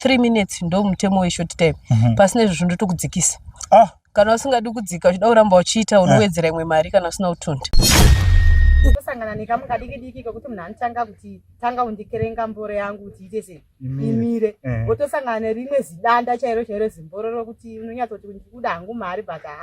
three minutes ndo mutemo weshort time Mhm. pasina izvozvo ndotokudzikisa Ah, kana usingadi kudzika uchida kuramba uchiita unowedzera imwe mari kana usina kutunda kusangana nekamu kadiki diki kekuti munhu anotanga kuti tanga undikerenga mboro yangu kuti iite sei Imire. imire Eh. wotosangana nerimwe zidanda chairo chairo zimboro rokuti unonyatsoti ndikuda hangu mari but ha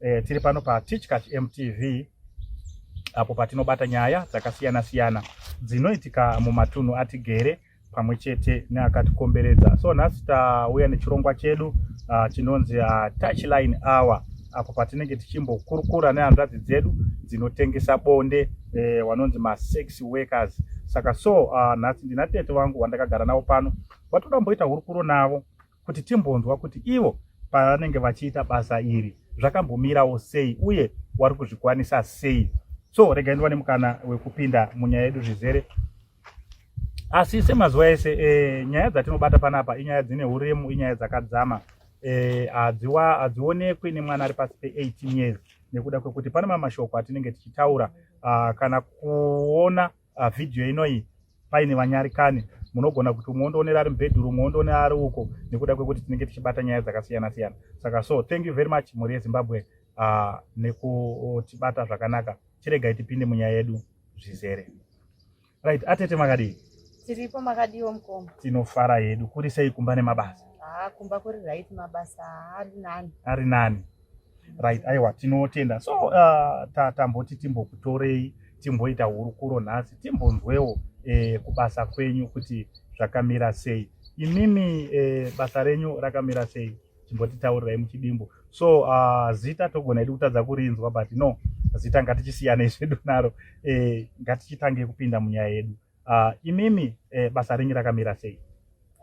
E, tiri pano patichkach mtv apo patinobata nyaya dzakasiyana siyana dzinoitika mumatunhu atigere pamwe chete neakatikomberedza so nhasi tauya nechirongwa chedu uh, chinonzi uh, touchline hour apo patinenge tichimbokurukura nehanzvadzi dzedu dzinotengesa bonde eh, wanonzi masex workers saka so uh, nhasi ndinatete vangu vandakagara navo pano vatoda mboita hurukuro navo kuti timbonzwa kuti ivo pavanenge vachiita basa iri zvakambomirawo sei uye wari kuzvikwanisa sei so rega ndiwane mukana wekupinda munyaya yedu zvizere asi semazuva ese e, nyaya dzatinobata panapa inyaya dzine uremu inyaya dzakadzama eh, hadzionekwi e, nemwana ari pasi pe18 years nekuda kwekuti pane mamashoko atinenge tichitaura uh, kana kuona uh, video inoyi paine vanyarikani munogona kuti umwe ondoonera ari mubhedhuru umwe ondoonera ari uko nekuda kwekuti tinenge tichibata nyaya dzakasiyana siyana saka so thank you very much mhuri yezimbabwe uh, nekutibata zvakanaka chiregai tipinde munyaya yedu zvizere right atete makadii tiripo makadiwo mukoma tinofara yedu kuri sei kumba nemabasa haa kumba kuri right mabasa ari nani ari nani right aiwa tinotenda so uh, tamboti timbokutorei timboita hurukuro nhasi timbonzwewo eh, kubasa kwenyu kuti zvakamira sei imimi eh, basa renyu rakamira sei timbotitaurirai muchidimbu so uh, zita togona idi kutadza kurinzwa but no zita ngatichisiyane zvedu naro eh, ngatichitange kupinda munyaya yedu Uh, imimi eh, basa renyu rakamira sei?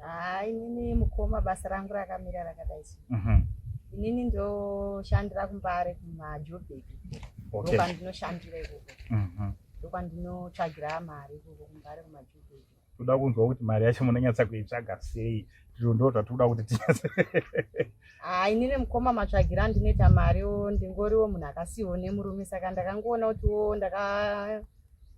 Ah, inini mukoma basa rangu rakamira rakadai sei? Mm -hmm. Inini ndoshandira kumbare kumaJobek. Okay. Ndokwandinoshandira ikoko. Mm -hmm. Ndokwandinotsvagira mari ikoko kumbare kumaJobek. Toda kunzwa kuti mari yacho munonyatsa kuitsvaga sei? Ndizvo ndo zvatinoda kuti tinyatse. Ah, inini mukoma matsvagira ndinoita mari wo ndingoriwo munhu akasiwo nemurume saka ndakangoona kuti wo ndaka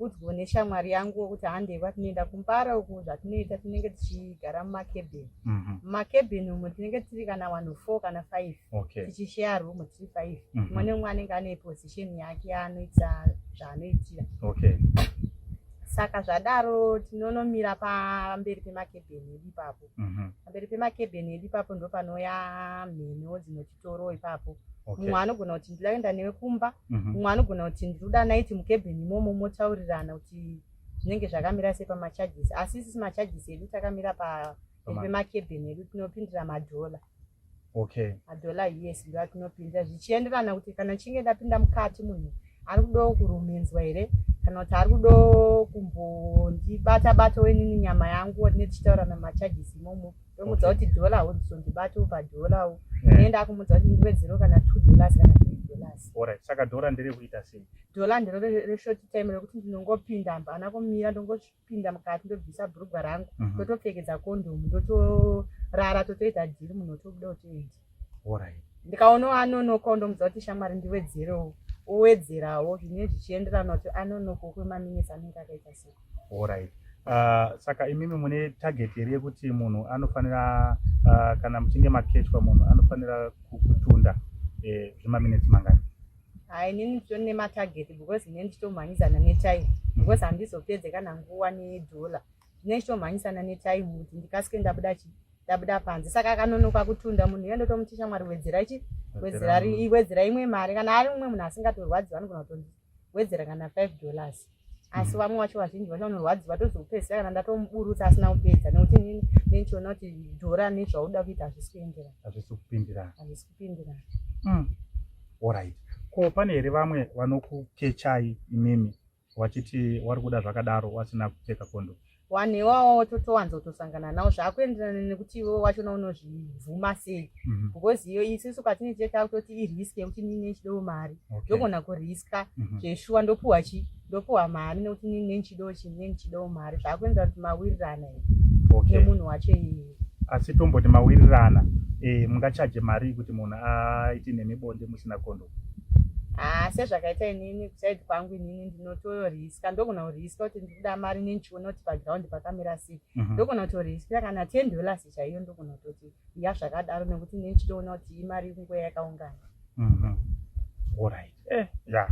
udzwe neshamwari yangu wekuti handei kwatinoenda kumbara uku zvatinoita tinenge tichigara mumakebheni mhm. mumakebheni umo tinenge tiri kana wanhu four kana five tichisheya room tiri five mhm. umwe neumwe anenge ane position yake yaanoita zvaanoitira saka zvadaro tinonomira pamberi pemakebheni edu ipapo mhm. pamberi pemakebheni edu ipapo ndopanouya mheniwo dzinoti toro ipapo mumwe okay. anogona kuti ndidaenda newe kumba mumwe mm -hmm. anogona kuti ndikuda naiti mukebheni imomo motaurirana kuti zvinenge zvakamira sei pamacharges asi isisi macharges edu takamira paemakebheni edu tinopindira madhola okay. madhola yes ndo atinopindira zvichienderana kuti kana chinge ndapinda mukati munhu ari kudawo kurumenzwa here kana kuti ari kudawo kumbondibata bata wenini nyama yangu tinetichitaura namacharges imomo ndomudza kuti dhola hauzondibati upa dhola u eh. enda akumudza kuti ndive zero kana two dollars kana three dollars orit saka dhola nderekuita sei dhola ndero reshort time rekuti ndinongopinda hapana kumira ndongopinda mukati ndobvisa bhurugwa rangu mhm. ndotopfekedza kondomu ndotorara totoita dhiri munhu otobuda otoenda Alright. Ndikaona anonoka undomudza kuti shamwari ndiwedzerewo. Uwedzerawo zvine zvichienderana kuti anonoka kwe maminutes anenge akaita sei. Alright. Uh, saka imimi mune target here yekuti munhu anofanira uh, kana muchinge makechwa munhu anofanira kutunda eh, zvemaminetsi eh, mangani ha inini nditoni nematarget because ine nditomhanyidzana netime because handizopedze kana nguva nedhola Ndine chitomhanyisana netime kuti ndikasike ndabuda chi ndabuda panze saka akanonoka kutunda munhu iye ndotomuti shamwari wedzera chi wedzera wedzera imwe mari kana ari umwe munhu asingatorwadziwa anogona kutondi wedzera kana five dollars asi mm. vamwe wacho vazhinji vacho vanorwadziwa tozokupedzisa kana ndatomuburutsa asina kupedza nekuti nini nenchiona kuti dhora nezvauda kuita hazvisi kuenderana hazvisi kupindirana hazvisi kupindirana mm. orit ko pane here vamwe vanokukechai imimi wachiti wari kuda zvakadaro wasina kupfeka kondo wanhu iwawo wototowanza kutosangana nawo zvaakuenderana nekuti iwe wachona unozvibvuma sei mhm. because iyo isisu katini chete akutoti irisk yekuti nini nechidowo mari ndogona kuriska mhm. zveshuwa ndopuwa chi ndopuwa mari nekuti nini nenichidowo chii nenichidowo mari zvaakuenderana kuti mawirirana nemunhu wacho iye asi tomboti mawirirana eh, mungachaje mari kuti munhu aite nemibonde musina kondo haa sezvakaita inini kusaidi kwangu inini ndinotoriska ndogona kuriska kuti ndikuda mari nenchiona kuti pagraundi pakamira sei mhm. ndogona kutoriskira kana ten dollars chaiyo ndogona kutoti ya zvakadaro nekuti inini chitoona kuti imari kungoya yakaungana mhm. orit eh, ya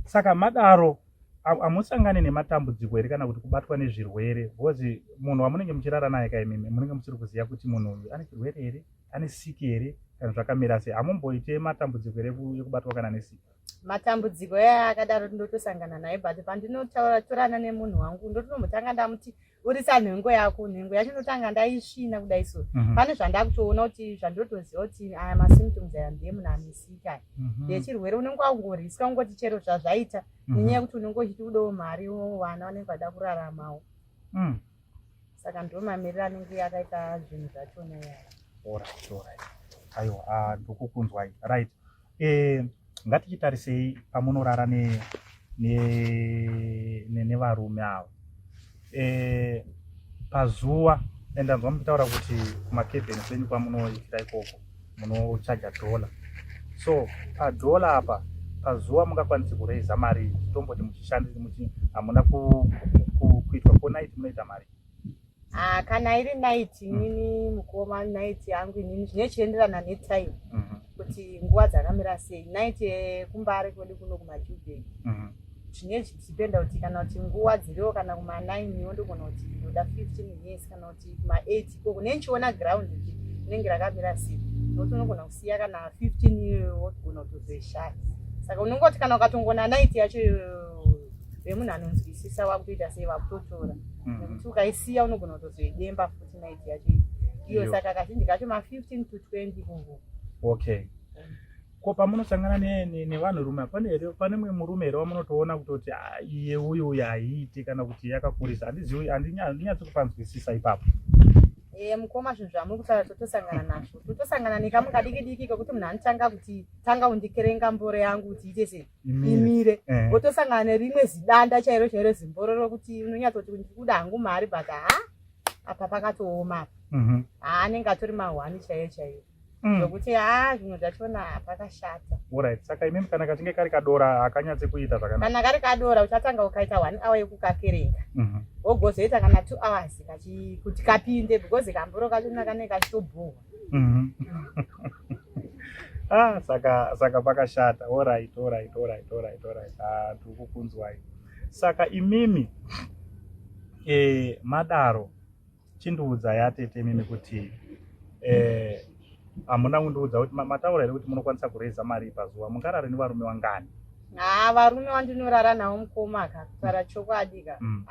saka madaro hamusangane nematambudziko here kana kuti kubatwa nezvirwere bcause munhu wamunenge muchirara naye kaimimi munenge musiri kuziva kuti munhu uyu ane chirwere here ane siki here kana zvakamira sei hamumboite matambudziko here ekubatwa kana nesiki matambudziko aya akadaro ndotosangana naye but pandinotaura torana nemunhu wangu ndotonombotanga ndamuti urisa nhengo yako nhengo yacho ndotanga ndaisvina kudai so mhm. pane zvandakutoona kuti zvandotoziva kuti aya masymptoms aya ndiye munhu anesika mhm. ndechirwere unenge wakungoriswa ungoti chero zvazvaita mhm. nenyaya yekuti unenge uchiti udawo mari wowana vanenge vada kuraramawo mm. saka ndo mamiriro anenge akaita zvinhu zvacho neyaya orit orit aiwa ah, ndokukunzwai right eh, ngatichitarisei pamunorara nevarume ava eh, pazuva and ndanzwa muchitaura kuti kumakevheni kwenyu kwamunoitira ikoko munochaja dollar so padollar apa pazuva mungakwanise kuraiza mari tomboti muchishandisa muchi hamuna kuitwa ko night munoita mari ah, kana iri night mm. inini mukoma night yangu inini zvine chienderana netime mm-hmm. kuti nguva dzakamira sei night yekumbare kwedu kuno kumajubheki mm-hmm. zvine zvichipenda kuti kana kuti nguva dziriwo kana kuma9 yo ndogona kuti ndoda 15 years kana kuti kuma8 ikoko ne ndichiona ground kuti rinenge rakamira sei nokuti unogona kusiya kana 15 iyoyo wogona kutozoishaya saka unenge kuti kana ukatongona night yacho vemunhu anonzwisisa wakutoita sei vakutotora mhm. nekuti ukaisiya unogona kutozoidemba futi night yacho iyo saka kazhinji kacho ma15 to 20 kuvo okay Ko pamunosangana nevanhurume ne, ne, ne pane mumwe murume here wamunotoona kutoti ah, iye uyu uyu haiiti kana kuti yakakurisa handizivi handinyatsi kupanzwisisa ipapo Eh, mukoma zvinhu zvamuri kutaura totosangana nazvo totosangana nekamu kadiki diki kekuti munhu anotanga kuti tanga undikerenga mboro yangu kuti ite sei imire eh. wotosangana nerimwe zidanda chairo chairo zimboro rokuti unonyatsoti ndikuda hangu mari but ha apa pakatooma apa mhm. anenge atori mahwani chaiyo chaiyo Mm. zvokuti mm. haa zvinhu zvachona pakashata orit saka imimi kana kachinge kari kadora hakanyatse kuita zvakanaka kana kari kadora uchatanga ukaita one hour yekukakerenga mhm. wogozoita mm -hmm. kana two hours kachi, kuti kapinde because kamboro kachona kanenge kachitobhuhwa mhm. ah, saka saka pakashata orit orit orit orit orit ah, tiri kukunzwai saka imimi eh, madaro chindiudza yatete mimi kuti eh, hamuna eh, kundiudza kuti mataura here kuti munokwanisa kureza mari pazuva mungarare nevarume wangani ha varume wandinorara navo mukoma ka kutaura chokwadi ka mm.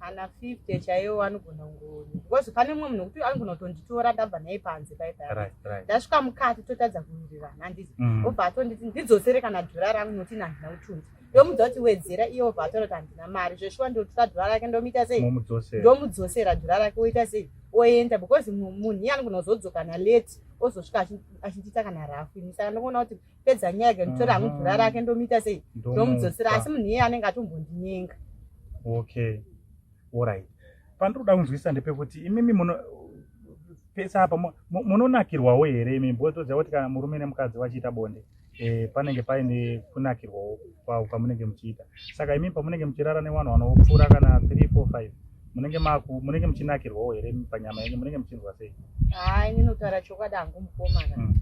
kana fifty chaiwo anogona kungoni because pane mumwe munhu wekuti anogona kutonditora ndabva naye panze pai pai ndasvika mukati totadza kuwirirana handizi mm. obva atonditi ndidzosere kana dhora rangu noti nandina kutunza ndomuudza kuti wedzera iyo obva atora kuti handina mari zveshuwa ndotora dhura rake ndomuita sei ndomudzosera dhura rake woita sei oenda because munhu iye anogona kuzodzokana late ozosvika achindita kana rafu ini saka ndokuona kuti pedza nyaya yake nditora hangu dhura rake ndomuita sei ndomudzosera asi munhu iye anenge atombondinyenga okay orit pandinoda kunzwisisa ndepekuti imimi muno pese apa munonakirwawo here imi bhozoziva kuti kana murume nemukadzi vachiita bonde e, panenge paine kunakirwawo kwavo kwamunenge muchiita saka imi pamunenge muchirara newanhu wanopfuura kana 3 4 5 munenge maku munenge muchinakirwawo here panyama yenyu munenge muchinzwa sei haa ini notaura chokwadi hangu mukoma ka mm.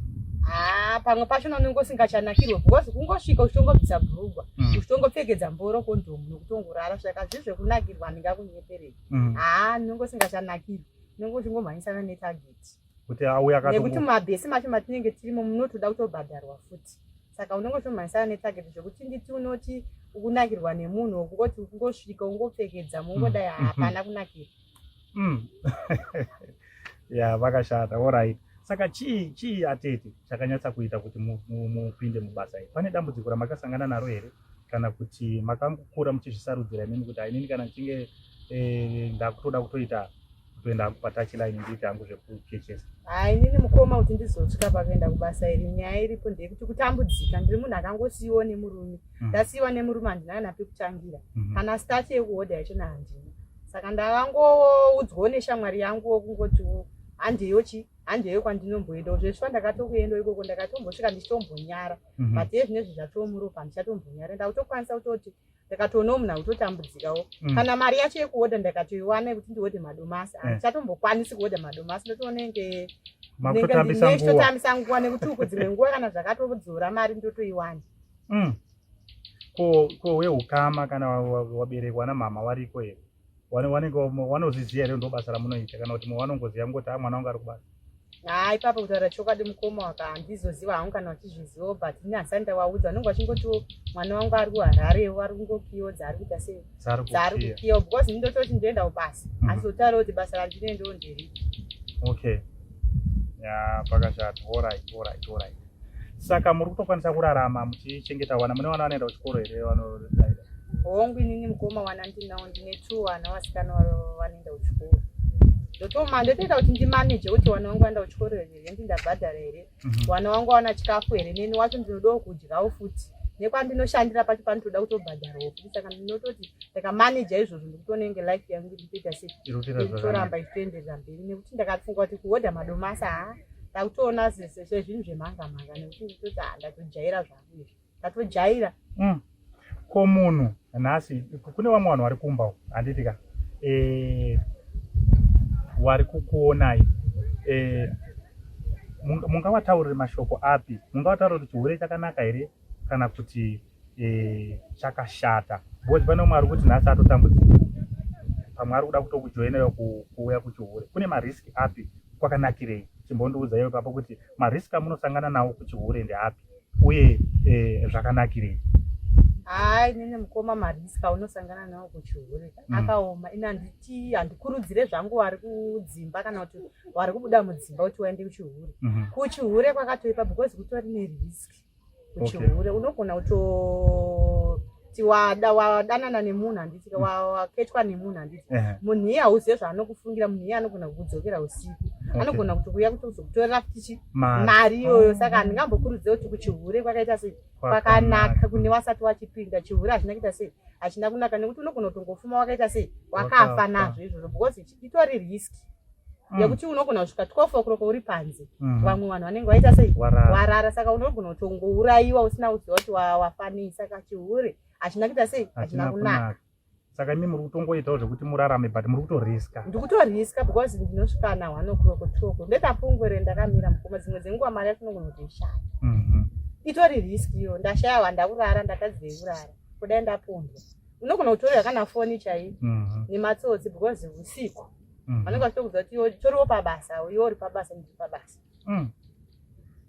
haa pamwe pacho nanenge usingachanakirwe because kungosvika uchitongobvisa bhurugwa mm. uchitongopfekedza mboro kondomu nokutongorara saka zvi zvekunakirwa handingakunyeperei mm. haa nenge usingachanakirwe nenge uchingomhanyisana netageti kuti auye akatongo nekuti mabhesi macho matinenge tirimo munotoda kutobhadharwa futi saka unenge utomhanyisana netarget zvekuti nditi unoti ukunakirwa nemunhu wokungoti ukungosvika ungopfekedza mungodai mm. hapana kunakirwa mm. ya vakashata orit saka chii chii atete chakanyatsa kuita kuti mupinde mubasa iri pane dambudziko ramakasangana naro here kana kuti makangokura muchizvisarudzira imimi kuti inini kana ndichinge eh, ndakutoda kutoita kutoenda hangu patachi line ndiite hangu zvekuchechesa hayi nini mukoma kuti ndizosvika pakuenda kubasa iri nyaya iripo ndeyekuti kutambudzika ndiri munhu akangosiyiwa nemurume mm. ndasiyiwa nemurume handina kana pekutangira mm-hmm. kana staff yekuhodha yachona handina saka ndavangoudzwawo neshamwari yangu wokungotiwo handeyo chi handeyo kwandinomboenda zveshuwa ndakatokuenda ikoko ndakatombosvika ndichitombonyara mm-hmm. but ezvinezvi zvatomuropa handichatombonyara ndakutokwanisa kutoti ndakatoonawo munhu akutotambudzikawo mm. kana mari yacho yekuoda ndakatoiwana yekuti ndiode madomasi eh. handichatombokwanisi kuoda madomasi ndotoonenge nechitotambisa nguva nekuti uku dzimwe nguva kana zvakatodzora mari ndotoiwana mm. ko weukama kana waberekwa namama wariko here wanenge wanozviziva here ndobasa ramunoita kana kuti mwe wanongoziva kungoti a mwana wangu ari kubasa haa ipapo kutaura chokwadi mukoma waka handizoziva hangu kana vachizvizivawo but ini hasani ndawaudza vanenge vachingotiwo mwana wangu ari kuhararewo ari kungokiyodza ari kuita sei dzaari kukiyawo because ini ndototi ndoendawo basa mhm. asi zotaurawo kuti basa randinendewo nderipi okay ya pakashata orit orit orit Saka muri kutokwanisa kurarama muchichengeta vana? Mune vana vanoenda kuchikoro here vanodaira? Hongu, inini mukoma wana ndinawo, ndine two vana vasikana vanoenda kuchikoro ndotoma ndotoita kuti ndimaneje kuti wana wangu waenda kuchikoro here hendi ndabhadhara here mhm. wana wangu wawana chikafu here neni wacho ndinodawo kudyawo futi nekwandinoshandira pacho panotoda kutobhadharawo futi saka ndinototi ndakamaneja izvozvo ndikutonenge life yangu nditoita sei nditoramba ichitoenderera mberi nekuti ndakafunga kuti kuhodha madomasa haa takutoona sese sezvinhu zvemhanga mhanga nekuti nditoti ha ndatojaira zvangu izvi ndatojaira mm. ko munhu nhasi kune vamwe vanhu vari kumba u handiti ka e, wari kukuonai e, mungavataurire mashoko api mungavataurire kuti chihwere chakanaka here kana kuti eh, chakashata because pane umwe ari kuti nhasi atotambudzika pamwe ari kuda kutokujoinera kuuya kuchihure kune marisk api kwakanakirei chimbondiudza iwe papo kuti marisk amunosangana nawo kuchihure ndeapi uye eh, zvakanakirei hai nene mukoma marisk aunosangana nawo kuchihure mm. akaoma ini handiti handikurudzire zvangu wari kudzimba kana kuti wari kubuda mudzimba kuti waende kuchihure mm-hmm. kuchihure kwakatoipa because kutori nerisk uchihure unogona kutoti wadanana nemunhu handiti mm. waketwa nemunhu handiti munhu iye hauzive zvaanokufungira munhu iye anogona kukudzokera usiku anogona kutokuya kuti uzokutorera futichi mari iyoyo saka oh. handingambokurudzire kuti kuchihure kwakaita sei kwakanaka kune wasati wachipinda chihure hazvina kuita sei hachina kunaka nekuti unogona kutongofuma wakaita sei wakafa nazvo izvozvo because itori riski mm. yekuti unogona kusvika 12 o'clock uri panze mm. vamwe vanhu vanenge vaita sei warara saka unogona kuti ungourayiwa usina kuziva kuti wafanisa kachihure hachina kuita sei hachina kunaka saka imi muri kutongoitawo zvekuti murarame but muri kutoriska ndikutoriska because ndinosvika na one o'clock two o'clock ndetapungwere ndakamira mukoma dzimwe dzenguva mari yacho unogona kuti ishaya mhm. itori risk iyo ndashaya wandakurara ndatadzei kurara kudai ndapondwa unogona kutorera kana foni chaiyo mhm. nematsotsi because usiku mm. vanenge vachito kudza kuti iwe toriwo pabasa iwe uri pabasa ndiri pabasa mm.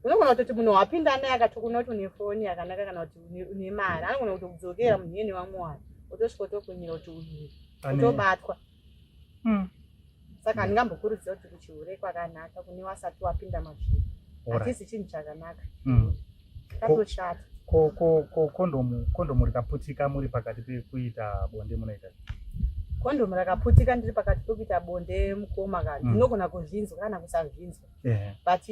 unogona kutoti munhu wapinda naye akati kuna kuti une foni yakanaka kana kuti une mari anogona kutokudzokera munhu iyene vamwe wani otosvika otokunyira kuti uyu otobatwa mm. saka handingambokurudzira kuti kuchihure kwakanaka kune wasati wapinda mazviri hatisi chinhu chakanaka mm. Katoshata. Ko ko ko kondomu kondomu rikaputika muri pakati pekuita bonde munoita. Kondomu rakaputika ndiri pakati pekuita bonde mukoma kana mm. ndinogona kuzvinzwa kana kusazvinzwa. Yeah. But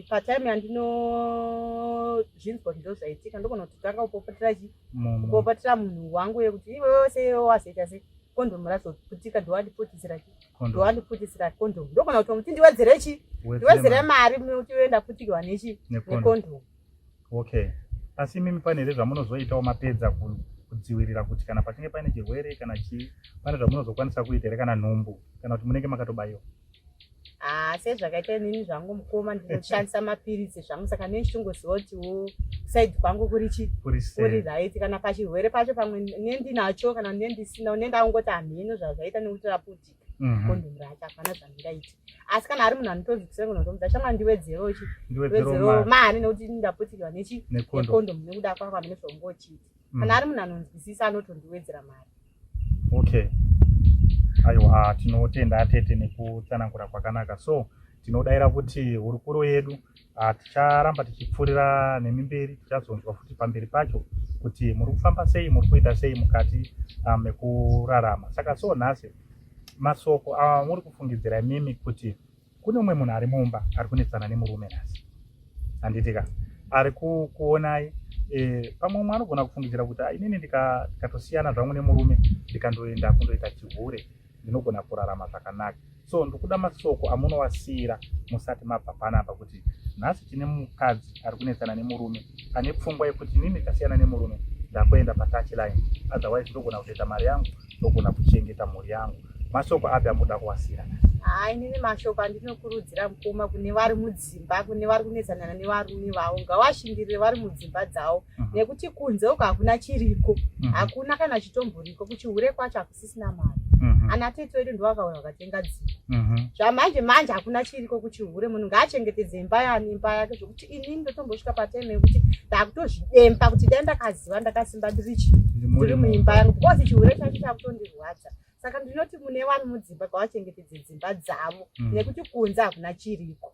pa time yandino zvinzwa kuti ndozvaitika ndogona kuti tanga kupopotera chi kupopotera munhu wangu yekuti iwe wese wazoita sei kondomu razoputika ndowandiputitsira chi. ndowandipfutisira condom ndogona kuti muti ndiwedzere chi ndiwedzere mari muti uenda pfutikirwa nechi necondom okay asi imimi pane here zvamunozoitawo mapedza kudzivirira kuti kana patinge paine chirwere kana chii pane zvamunozokwanisa kuita here kana nhumbu kana kuti munenge makatobayiwa haa sezvakaita inini zvangu mukoma ndinoshandisa mapiritsi zvangu saka nei ndichongoziva kuti wo saidi kwangu kuri chi kuri right kana pachirwere pacho pamwe ne ndinacho kana ne ndisina ne ndakungoti hamheno zvazvaita nekuti raputika mhm. kondom racho hapana zvandingaiti asi kana ari munhu anotonzi kusengo notomudza shama ndiwedzero chi ndiwedzero mari nekuti ndaputikirwa nechi nekondom nekuda kwako hamene zvaungochiita kana mhm. ari munhu anonzwisisa anotondiwedzera mari okay aiwa tinotenda atete nekutsanangura kwakanaka so tinodaira kuti hurukuro yedu ah, ticharamba tichipfuurira nemi mberi tichazonzwa futi pamberi pacho kuti muri kufamba sei muri kuita sei mukati ah, mekurarama saka so nhasi masoko amuri ah, kufungidzira imimi kuti Kune umwe munhu ari mumba ari kunetsana nemurume nhasi, handitika ari kukuonai e, pamwe umwe anogona kufungidzira kuti ah, inini ndikatosiyana zvangu nemurume ndikandoenda kundoita chihure ndinogona kurarama zvakanaka so ndikuda masoko amunowasiyira musati mabva panapa kuti nhasi tine mukadzi ari kunetsana nemurume ane pfungwa yekuti inini ndikasiyana nemurume ndakuenda patach line otherwise ndogona kutoita mari yangu ndogona kuchengeta mhuri yangu mashoko api amuda kuwasira haa inini mashoko andinokurudzira mukoma kune vari mudzimba kune vari kunetsanana nevarume vavo ngavashingirire vari mudzimba dzavo mhm. nekuti kunze uko hakuna chiriko mhm. hakuna kana chitomboriko kuchihure kwacho hakusisina mari mhm. ana tete vedu ndovakauya vakatenga dzimba zvamanje manje hakuna chiriko kuchihure munhu ngaachengetedze imba yani imba yake zvekuti ini ndotombosvika patime yekuti ndakutozvidemba kuti dai ndakaziva ndakasimba ndirichi ndiri muimba yangu because chihure chacho chakutondirwadza saka ndinoti mune wani mudzimba kwavachengetedze dzimba dzavo mm. nekuti kunze hakuna chiriko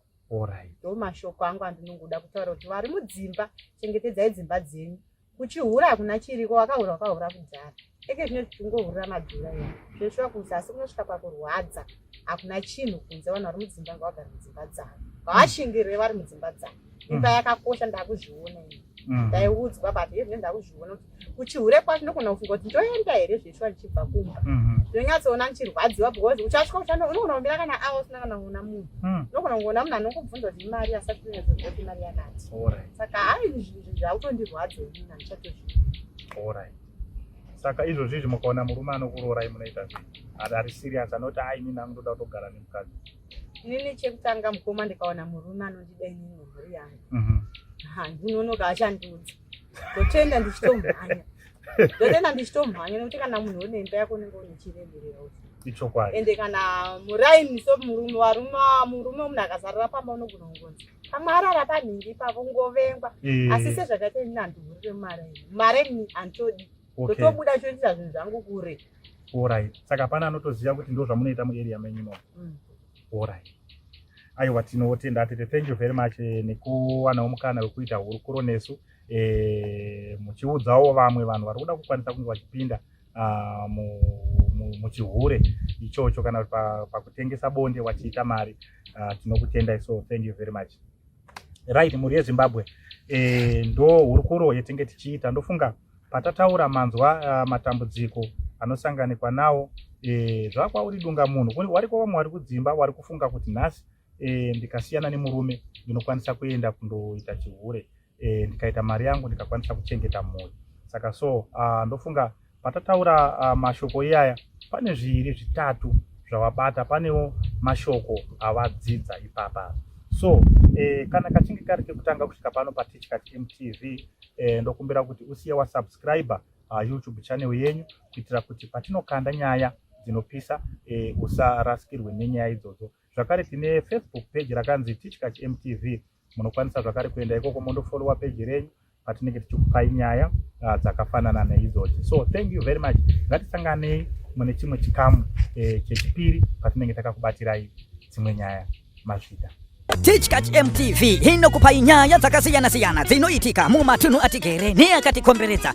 ndo mashoko angu andinongoda kutaura kuti vari mudzimba chengetedzai dzimba dzenyu kuchihura hakuna chiriko wakahura wakahura kudhara eke zvino tichungohurira madhura ya zveshuwa kunze asi kunosvika pakurwadza hakuna chinhu kunze vanhu vari mudzimba nga vagari mudzimba dzavo ngavashingirwe vari mudzimba dzavo imba mm. yakakosha ndakuzviona ini mm. ndaiudzwa but hezvi ne ndakuzviona kuti kuchihure kwacho ndokona kufunga kuti ndoenda here zveshuwa ndichibva kumba mm-hmm. ndinonyatsoona ndichirwadziwa because uchasvika uchano unogona kumbira kana awa usina kana kuona munhu mm. unogona kungoona munhu anokubvunza kuti imari asati unyatsozoti imari yakati saka hayi zvautondirwadza ini handichatozvii orai saka izvozvizvi mukaona murume anokuroorai munoita zvi ari serious anoti a inini angu ndoda kutogara nemukadzi inini chekutanga mukoma ndikaona murume anondida inini mhuri yangu mhm. handinonoka achandiudza ndotoenda ndichitomhanya ndotoenda ndichitomhanya nekuti kana munhu une imba yako unenge une chiremerera uti ichokwadi ende kana muraini so murume warume murume munhu akazarira pamba unogona kungonzi amarara panhingi pavo ngovengwa eh. asi sezvakaita ini handihurire mare mare ni handitodi ndotobuda okay. choitisa zvinhu zvangu kure orit saka pana anotoziva kuti ndo zvamunoita muarea menyu imomo mm. orit aiwa tinotenda atete thank you very much eh, nekuwanawo mukana wekuita hurukuro nesu eh, muchiudzawo vamwe vanhu vari kuda kukwanisa kunge vachipinda uh, mu muchihure ichocho kana kuti pakutengesa bonde wachiita mari uh, tinokutendai so thank you very much right mhuri yezimbabwe e, ndo hurukuro yetenge tichiita ndofunga patataura manzwa uh, matambudziko anosanganikwa nawo e, zvakwauri dunga munhu wariko vamwe wari kudzimba wari kufunga kuti nhasi e, ndikasiyana nemurume ndinokwanisa kuenda kundoita chihure e, ndikaita mari yangu ndikakwanisa kuchengeta mhuri saka so uh, ndofunga patataura uh, mashoko iyaya pane zviiri zvitatu zvawabata panewo mashoko awadzidza ipapa so eh, kana kachinge kari kekutanga kusvika pano patichka mtv eh, ndokumbira kuti usiye wasubscribe uh, youtube channel yenyu kuitira kuti patinokanda nyaya dzinopisa eh, usarasikirwe nenyaya idzodzo zvakare tine facebook page rakanzi tichkach mtv munokwanisa zvakare kuenda ikoko mondofolowa peji renyu patinenge tichikupai nyaya ah, dzakafanana neidzochi so thank you very much ngatisanganei mune chimwe chikamu eh, chechipiri patinenge takakubatirai dzimwe nyaya mazvita tichkach mtv inokupai nyaya dzakasiyana-siyana dzinoitika mumatunhu atigere neakatikomberedza